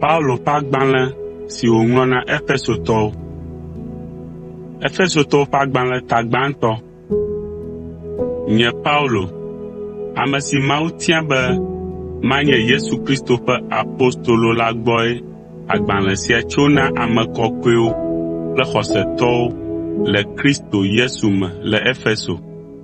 Paulo ƒe agbalẽ si wòŋlɔ na Efesotɔwo. Efesotɔwo ƒe agbalẽ ta gbãtɔ. Nye Paulo, ame si Mawu tia be manye Yesu Kristo ƒe apostolo la gbɔe agbalẽ sia tso na ame kɔkɔewo kple xɔsetɔwo le Kristo Yesu me le Efeso,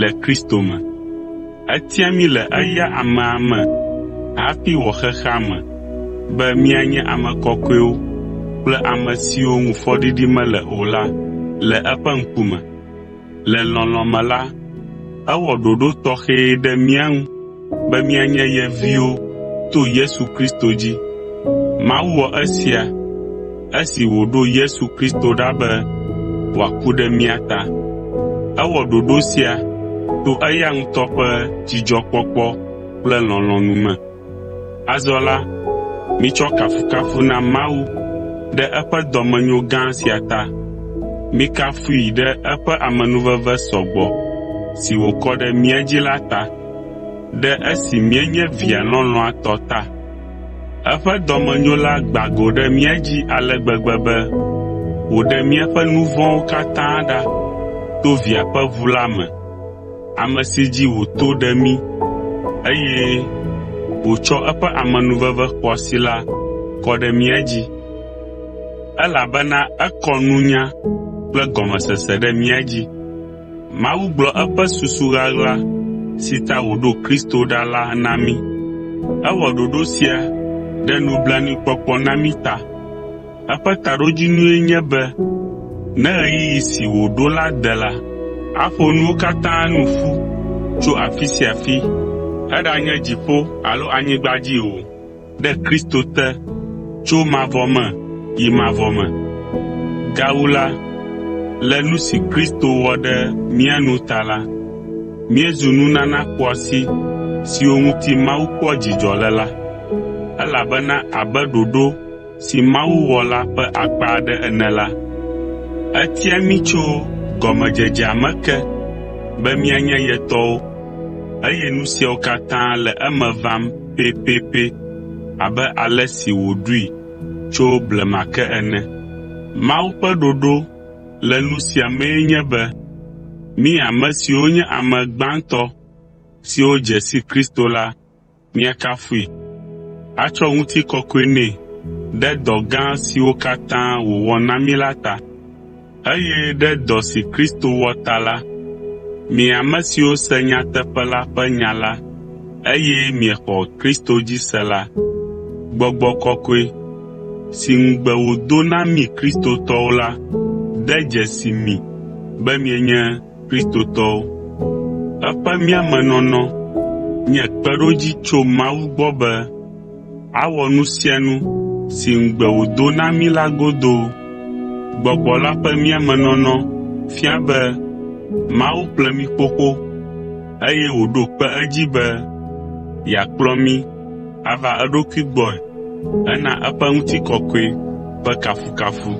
le Kristo me. Etia mí le eya amea me hafi wɔ xexea me be míanye ame kɔkɔewo kple ame siwo ŋu fɔɖiɖi mele o la le eƒe ŋkume. Le lɔlɔ̃ me la, ewɔ ɖoɖo tɔxɛ ɖe mía ŋu be míanye ye viwo to Yesu Kristo dzi. Mawu wɔ esia esi wòɖo Yesu Kristo ɖa be wòaku ɖe mía ta. Ewɔ ɖoɖo sia to eya ŋutɔ ƒe dzidzɔkpɔkpɔ kple lɔlɔ̃nu me. Azɔ la, mitsɔ kafukafu na Mawu ɖe eƒe dɔmenyo gã sia ta. Mikafui ɖe eƒe amenuveve sɔ gbɔ si wòkɔ ɖe mía dzi la ta. Ɖe esi míenye via lɔlɔ̃a tɔ ta eƒe dɔmenyo la gbã go ɖe mía dzi ale gbegbe be wòɖe míaƒe nu vɔ̃wo katã ɖa to Via ƒe ʋu la me, ame si dzi wòto ɖe mí eye wòtsɔ eƒe amenuveve xɔasi la kɔ ɖe mía dzi, elabena ekɔ nunya kple gɔmesese ɖe mía dzi. Mawu gblɔ eƒe susu ɣaɣla si ta wòɖo Kristo ɖa la na mí. Ewɔ ɖoɖo sia ɖe nublanuikpɔkpɔ na mí ta. Eƒe taɖodzinue nye be ne ɣeyiɣi si wòɖo la de la, aƒo nuwo katã nu ƒu tso afi sia afi, eɖanye dziƒo alo anyigba dzi o. ɖe Kristo te tso mavɔ me yi mavɔ me. Gawu la, le nu si Kristo wɔ ɖe mía nu ta la, míezu nunana xɔasi siwo ŋuti Mawu kpɔa dzidzɔ le la, elabena abe ɖoɖo si Mawu wɔ la ƒe akpa aɖe ene la, etia mí tso gɔmedzedzea me ke be míanye ye tɔwo, eye nu siawo katã le eme vam pɛpɛpɛ abe ale si wòɖoe tso blema ke ene. Mawu ƒe ɖoɖo le nu sia mee nye be mí ame siwo nye ame gbãtɔ siwo dze si Kristo la míakafui, atsɔ ŋutikɔkɔe nɛ ɖe dɔ gã siwo katã wòwɔ na mí la ta. Eye ɖe dɔ si Kristo wɔ ta la, mi ame siwo se nyateƒe la ƒe nya la, eye miexɔ Kristo dzi se la, gbɔgbɔ kɔkɔe, si ŋugbe wòdo na mi Kristotɔwo la, de dzesi mi be mienye Kristotɔwo. Eƒe mía me nɔnɔ nye kpeɖodzi tso Mawu gbɔ be Awɔ nu sia nu si ŋugbe wòdo na mí la godoo. Gbɔgbɔ la ƒe mía me nɔnɔ fia be Mawu ƒle mí xoxo, eye wòɖo kpe edzi be yeakplɔ mí ava eɖokui gbɔe hena eƒe ŋutikɔkɔe ƒe kafukafu,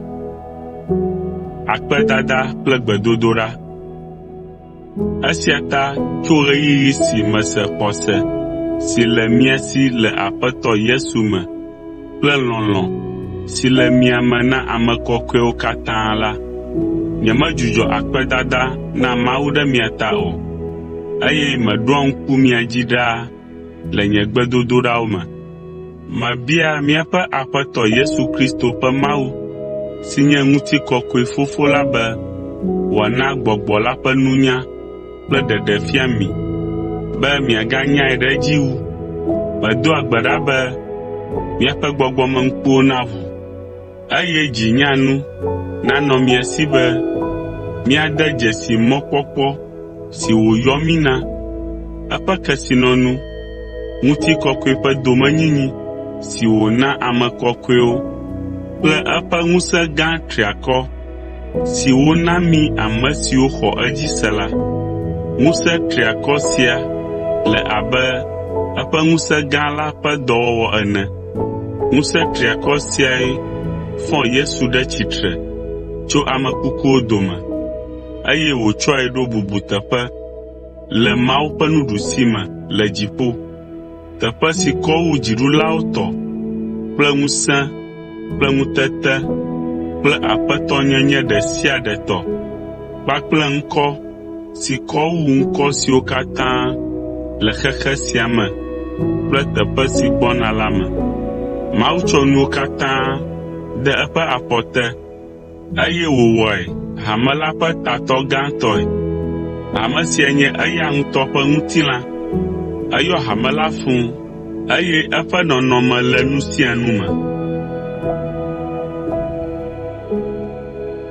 akpedada kple gbedodoɖa. Esia ta tso ɣeyiɣi si mese xɔse si le mia si le Aƒetɔ Yesu me kple lɔlɔ̃ si le mia me na ame kɔkɔewo katã la, nyemedzudzɔ akpedada na Mawu ɖe mia ta o, eye meɖoa ŋku mia dzi ɖaa le nye gbedodoɖawo me. Mebia míaƒe Aƒetɔ Yesu Kristo ƒe Mawu, si nye ŋutikɔkɔe Fofo la be wòana Gbɔgbɔ la ƒe nunya kple ɖeɖefia mi be miaganyae ɖe edzi wu. Medoa gbe ɖa be miaƒe gbɔgbɔmeŋkuwo naʋu. Eye dzi nya nu nanɔ mia si be míade dzesi mɔkpɔkpɔ si wòyɔ mí na, eƒe kesinɔnu, ŋutikɔkɔe ƒe domenyinyi si wòna ame kɔkɔewo kple eƒe ŋusẽ gã triakɔ si wòna mí ame siwo xɔ edzi se la. Ŋusẽ triakɔ sia le abe eƒe ŋusẽ gã la ƒe dɔwɔwɔ ene. Ŋusẽ triakɔ siae fɔ Yesu ɖe tsitre tso ame kukuwo dome, eye wòtsɔe ɖo bubuteƒe le Mawu ƒe nuɖusime le dziƒo, teƒe si kɔ wu dziɖulawo tɔ kple ŋusẽ kple ŋutete kple aƒetɔnyenye ɖe sia ɖe tɔ kpakple ŋkɔ si kɔ wu ŋkɔ siwo katã le xexe sia me kple teƒe si gbɔna la me. Mawu tsɔ nuwo katã de eƒe afɔ te, eye wòwɔe hame la ƒe tatɔ gãtɔe. Hame sia nye eya ŋutɔ ƒe ŋutilã. Eyɔ hame la fũ, eye eƒe nɔnɔme le nu sia nu me.